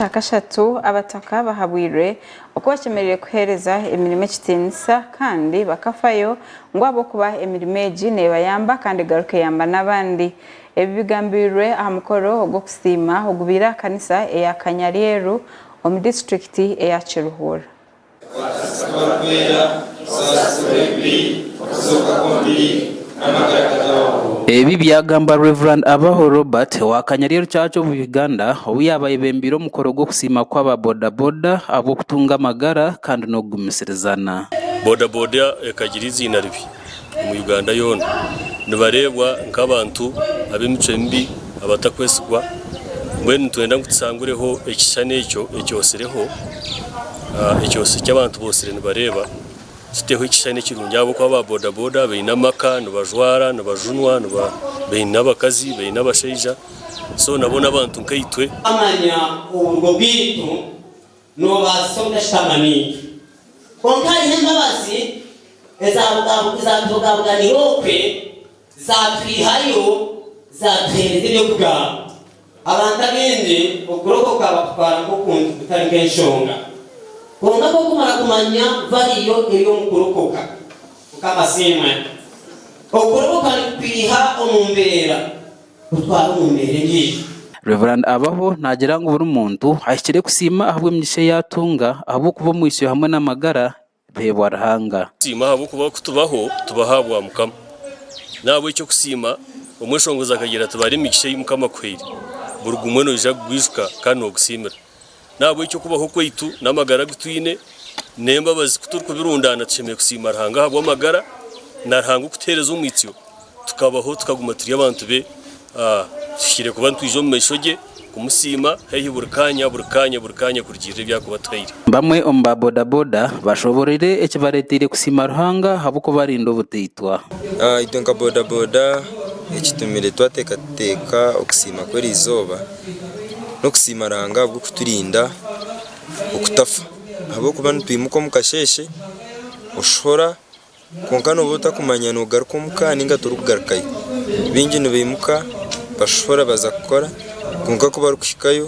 Aha kashatu, abataka bahabwirwe oku bakyemerire kuhereza emirimo ekitinisa kandi bakafayo ngu ahabw'okuba emirimo egi nebayamba kandi egaruka eyamba n'abandi. Ebi bigambirwe aha mukoro ogw'okusiima ogubaire aha kanisa eya Kanyaryeru omu disiturikiti eya Kiruhura. Ebi byagambwa Rev. Abaho Robert owa Kanyarye Rukyakye omu Uganda obu yaaba ayebembeire omukoro gw'okusiima kw'aba boda boda ahabw'okutunga amagara kandi n'okugumisirizaana. Boda boda ekagira eiziina ribi. omu Uganda yoona nibareebwa nk'abantu ab'emicwe mibi, abatakwesigwa, mbwenu nitwenda ngu tushangureho ekishushani ekyo ekyotsireho, ekyotsire eki abantu bootsire nibareeba, tuteho ekishushani ekirungi ahabw'okuba aba bodaboda baine amaka, nibajwara, nibajunwa, baine abakazi, baine abashaija so nabo n'abantu nkaitwe. Noobaasisa obutashutamani. Kwonka hariho embabazi ezaatubogaboganira okwe, zaatwihayo, zaatuheereza eby'okugamba. Abantu abaingi okurokoka bakutwara nk'okuntu kutari nk'enshonga. Kwonka ku okumara kumanya ngu hariyo eri omu kurokoka, Mukama asiimwe, okurokoka nikukwiha omu mbeera. kutwara omu mbeera endiijo. Rev. Abaho naagira ngu buri muntu ahikire kusiima ahabw'emigisha ei atunga ahabw'okuba omwitsyo hamwe n'amagara biheebwa Ruhanga. Tusiima ahabw'okuba ku tubaho, tubaho ahabwa Mukama. N'ahabw'ekyo kusiima, omweshongozi akagira ati, Bara emigisha ei Mukama akuhaire. Buri gumwe noija kugwijuka kandi noogusiimira. N'ahabw'ekyo okubaho kwaitu n'amagara agu twine n'embabazi ku turikubirundaana, tushemereire kusiima Ruhanga ahabw'amagara na Ruhanga okutuheereza omwitsyo tukabaho tukaguma turi abantu be. Tuhikire kuba nitwija omu maisho gye kumusiima haihi buri kaanya, buri kaanya, buri kaanya kurugiirira ebi arikuba atuhaire. Bamwe omu ba bodaboda bashoboorore ekibareeteire kusiima Ruhanga ahabw'okuba arinda obutaitwa. Itwe nka bodaboda ekitumire twateekateeka okusiima kw'eri izooba, n'okusiima Ruhanga ahabw'okuturinda okutafa ahabw'okuba nitwimuka omu kasheeshe oshuhura kwonka nooba otakumanya noogaruka omuka nainga torikugarukayo, baingi nibaimuka bashuhura baza kukora kwonka ku barikuhikayo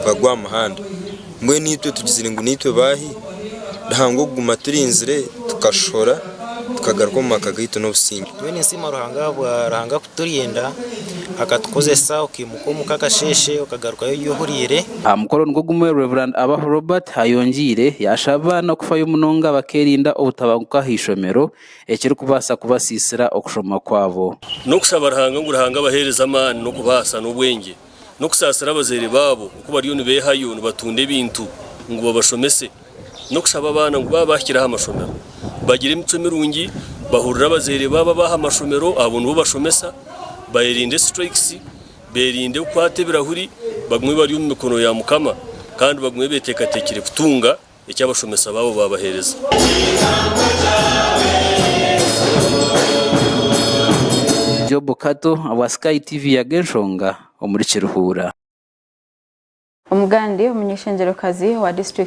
bagwa aha muhanda Mbwenu itwe tugizire ngu naitwe baahi? Ruhanga okuguma aturinzire tukashohora tukagaruka omu maka gaitu n'obusingye. Mbwenu nsiima Ruhanga ahabwa Ruhanga kuturinda akatukozesa okaimuka omuka akasheeshe okagarukayo ori ohuriire. Aha mukoro nigwo gumwe Rev. Abaho Robert ayongiire yashaba abaana kufayo munonga bakerinda obutabanguka aha ishomero ekirikubaasa kubasiisira okushoma kwabo. N'okushaba Ruhanga ngu Ruhanga abaheereze amaani n'okubaasa n'obwengye. n'okusaasira abazaire baabo oku bariyo nibeehayo nibatunda ebintu ngu babashomese, n'okushaba abaana ngu baaba baahikire aha mashomero bagire emicwe mirungi, bahurire abazaire baabo ab'aha mashomero abo nibo bashomesa, beerinde strikes, beerinde kukwata ebirahuri, bagume bari omu mikono ya Mukama kandi bagume beeteekateekire kutunga. eki abashomesa baabo baabaheereza. Job Kato obwa Sky TV yaga enshonga omuri Kiruhura. Omugande omunyeshengyero kazi owa district